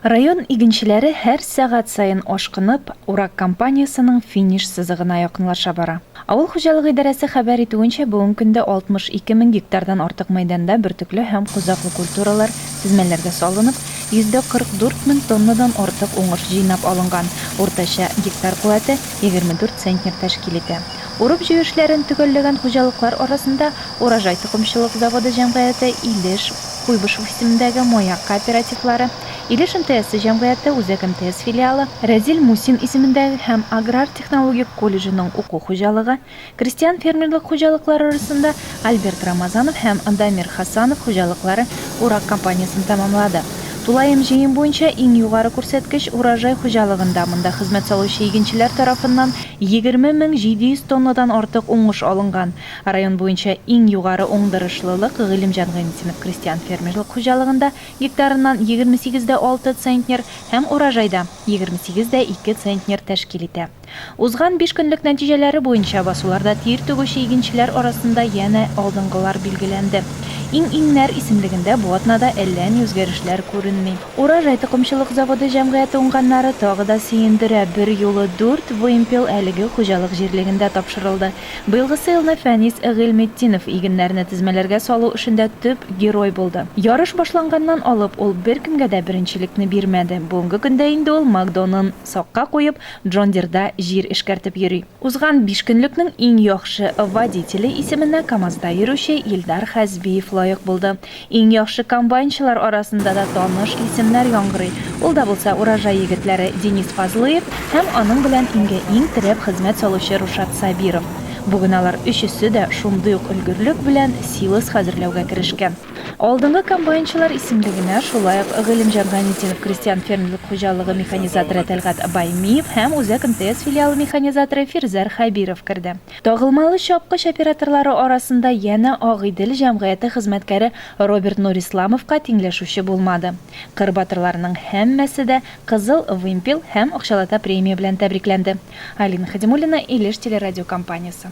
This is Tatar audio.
Район игенчеләре һәр сәгать саен ашкынып, урак кампаниясенең финиш сызыгына якынлаша бара. Авыл хуҗалыгы идарәсе хәбәр итүенчә, бүген көндә 62 мең гектардан артык мәйданда бөртекле һәм кузаклы культуралар тезмәләргә салынып, 144 мең тоннадан артык уңыш җыйнап алынган, уртача гектар куәте 24 центнер тәшкил итә. Урып-җыю эшләрен төгәлләгән хуҗалыклар арасында Урожай токымчылык заводы җәмгыяте Илеш, Куйбышев исемендәге Маяк кооперативлары, Илеш МТСы җәмгыяте Үзәк МТС филиалы, Рәзил Мусин исемендәге һәм аграр-технологик колледжының уку хуҗалыгы, крестьян-фермерлык хуҗалыклары арасында Альберт Рамазанов һәм Дамир Хасанов хуҗалыклары урак кампаниясен тәмамлады. Тулаем җыем буенча иң югары күрсәткеч Урожай хуҗалыгында монда хезмәт салучы игенчеләр тарафыннан егерме мең җиде йөз тоннадан артык уңыш алынган. Район буенча иң югары уңдырышлылык Гыйлемҗан Гайнетдинов крестьян-фермерлык хуҗалыгында, гектарыннан егерме сигез дә алты центнер һәм урожайда егерме сигез дә ике центнер тәшкил итә. Узган биш көнлек нәтиҗәләре буенча басуларда тир түгүче игенчеләр арасында янә алдынгылар билгеләнде. Иң-иңнәр исемлегендә бу атнада әллә ни үзгәрешләр күренми. Урожай токымчылык заводы җәмгыяте уңганнары тагы да сөендерә, берьюлы дүрт вымпел әлеге хуҗалык җирлегендә тапшырылды. Быелгысы елны Фәнис Гыйльметдинов игеннәрне тезмәләргә салу эшендә төп герой булды. Ярыш башланганнан алып ул беркемгә дә беренчелекне бирмәде. Бүгенге көндә инде ул Мак-Донын сакка куеп, Джон Дирда җир эшкәртеп йөри. Узган бишкөнлекнең иң яхшы водителе исеменә КАМАЗда йөрүче Илдар Хәзбиев лаек булды. Иң яхшы комбайнчылар арасында да таныш исемнәр яңгырый. Ул да булса Урожай егетләре Денис Фазлыев һәм аның белән иңгә иң терәп хезмәт салучы Рушат Сабиров. Бүген алар өчесе дә шундый ук өлгерлек белән силос хәзерләүгә керешкән. Алдынгы комбайнчылар исемлегенә шулай ук Гыйлемҗан Гамитдинов крестьян-фермерлык хуҗалыгы механизаторы Тәлгать Баймиев һәм Үзәк МТС филиалы механизаторы Фирзәр Хәбиров керде. Тагылмалы чапкыч операторлары арасында янә Ак Идел җәмгыяте хезмәткәре Роберт Нурисламовка тиңләшүче булмады. Кыр батырларының һәммәсе дә Кызыл вымпел һәм акчалата премия белән тәбрикләнде. Алина Хәдимуллина, Илеш телерадиокомпаниясе.